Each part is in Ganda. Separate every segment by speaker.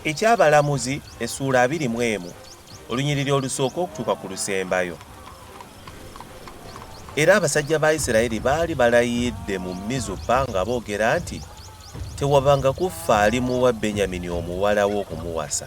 Speaker 1: eky'abalamuzi essuula abiri mu emu olunyiriri olusooka okutuuka ku lusembayo era abasajja ba isirayiri baali balayidde mu mizupa nga boogera nti tewabanga kuffa alimuwa benyamini omuwala we okumuwasa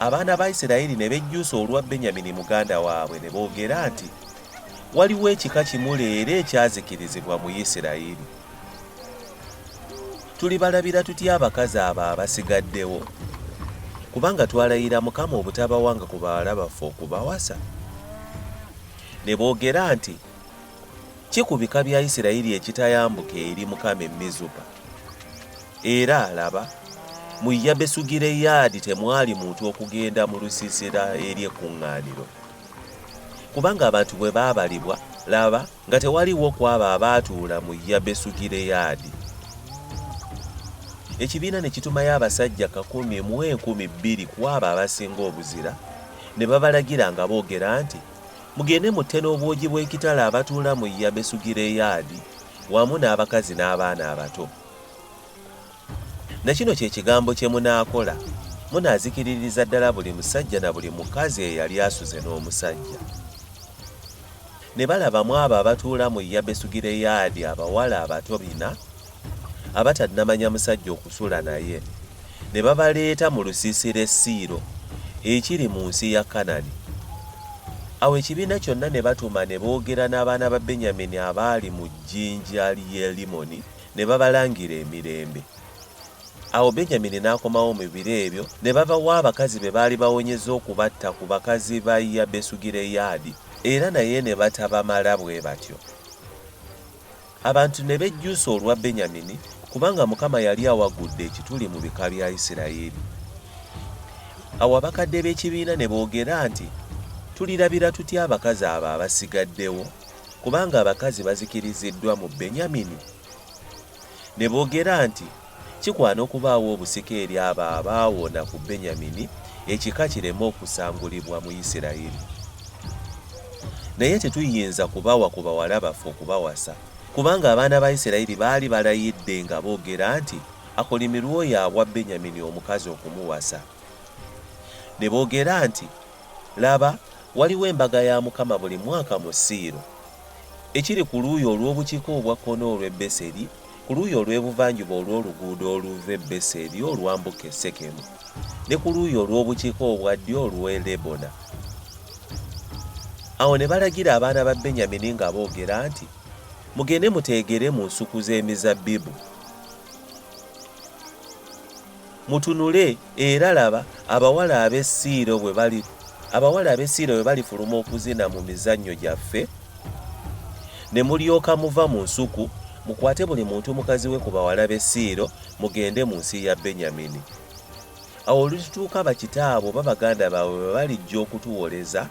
Speaker 1: Abaana ba Isirayiri ne bejjusa olwa Benyamini muganda waabwe ne boogera nti, Waliwo ekika kimu leero ekyazikirizibwa mu Isirayiri. Tulibalabira tutya abakazi abo abasigaddewo? Kubanga twalayira Mukama obutabawanga ku bawala baffe okubawasa. Ne boogera nti, Ki ku bika bya Isirayiri ekitayambuka eri Mukama e Mizupa? Era alaba mu Yabesugireyaadi temwali muntu okugenda mu lusiisira eri ekkuŋŋaaniro, kubanga abantu bwe baabalibwa, laba, nga tewaliwo ku abo abaatuula mu Yabesugireyaadi. Ekibiina ne kitumayo abasajja kakumi mu enkumi bbiri ku abo abasinga obuzira, ne babalagira nga boogera nti, Mugende mutte n'obwogi bw'ekitala abatuula mu Yabesugireyaadi wamu n'abakazi n'abaana abato. Na kino kye kigambo kye munaakola, Munaazikiririza ddala buli musajja na buli mukazi eyali asuze n'omusajja. Ne balaba mu abo abatuula mu Yabesugireyaadi abawala abato bina abatannamanya musajja okusula naye ne babaleeta mu lusiisira e Siiro ekiri mu nsi ya Kanani. Awo ekibiina kyonna ne batuma ne boogera n'abaana ba Benyamini abaali mu jjinja ly'e Limoni ne babalangira emirembe. Awo Benyamini n'akomawo mu biro ebyo ne babawa abakazi be baali bawonyezza okubatta ku bakazi ba Yabesugireyaadi, era naye ne batabamala bwe batyo. Abantu ne bejjusa olwa Benyamini, kubanga Mukama yali awagudde ekituli mu bika bya Isirayiri. Awo abakadde b'ekibiina ne boogera nti, Tulirabira tutya abakazi abo abasigaddewo? Kubanga abakazi bazikiriziddwa mu Benyamini. Ne boogera nti, Kikwana okubaawo obusika eri abo abaawona ku Benyamini, ekika kireme okusangulibwa mu Isiraeri. Naye tetuyinza kubawa ku bawala baffe okubawasa, kubanga abaana ba Isiraeri baali balayidde nga boogera nti, Akolimirwe oyo awa Benyamini omukazi okumuwasa. Ne boogera nti, Laba, waliwo embaga ya Mukama buli mwaka mu Siiro, ekiri ku luuyi olw'obukiika obwa kkono olw'e Beseri, ku luuyi olw'ebuvanjuba olw'oluguudo oluva e Beseri olwambuka e Sekemu, ne ku luuyi olw'obukiika obwa ddyo olw'e Lebona. Awo ne balagira abaana ba Benyamini nga boogera nti, Mugende muteegere mu nsuku z'emizabbibu. Mutunule era laba abawala ab'e Siiro bwe bali, abawala ab'e Siiro bwe balifuluma okuzina mu mizannyo gyaffe, ne mulyoka muva mu nsuku, mukwate buli muntu mukazi we ku bawala b'e Siiro, mugende mu nsi ya Benyamini. Awo olulituuka bakitaabwe oba baganda baabwe bwe balijja okutuwoleza,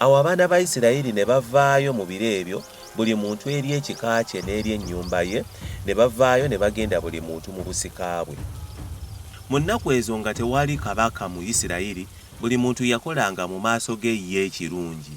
Speaker 1: Awo abaana ba Isirayiri ne bavaayo mu biro ebyo, buli muntu eri ekika kye n'eri ennyumba ye, ne bavaayo ne bagenda buli muntu mu busika bwe. Mu nnaku ezo nga tewali kabaka mu Isirayiri, buli muntu yakolanga mu maaso ge ye ekirungi.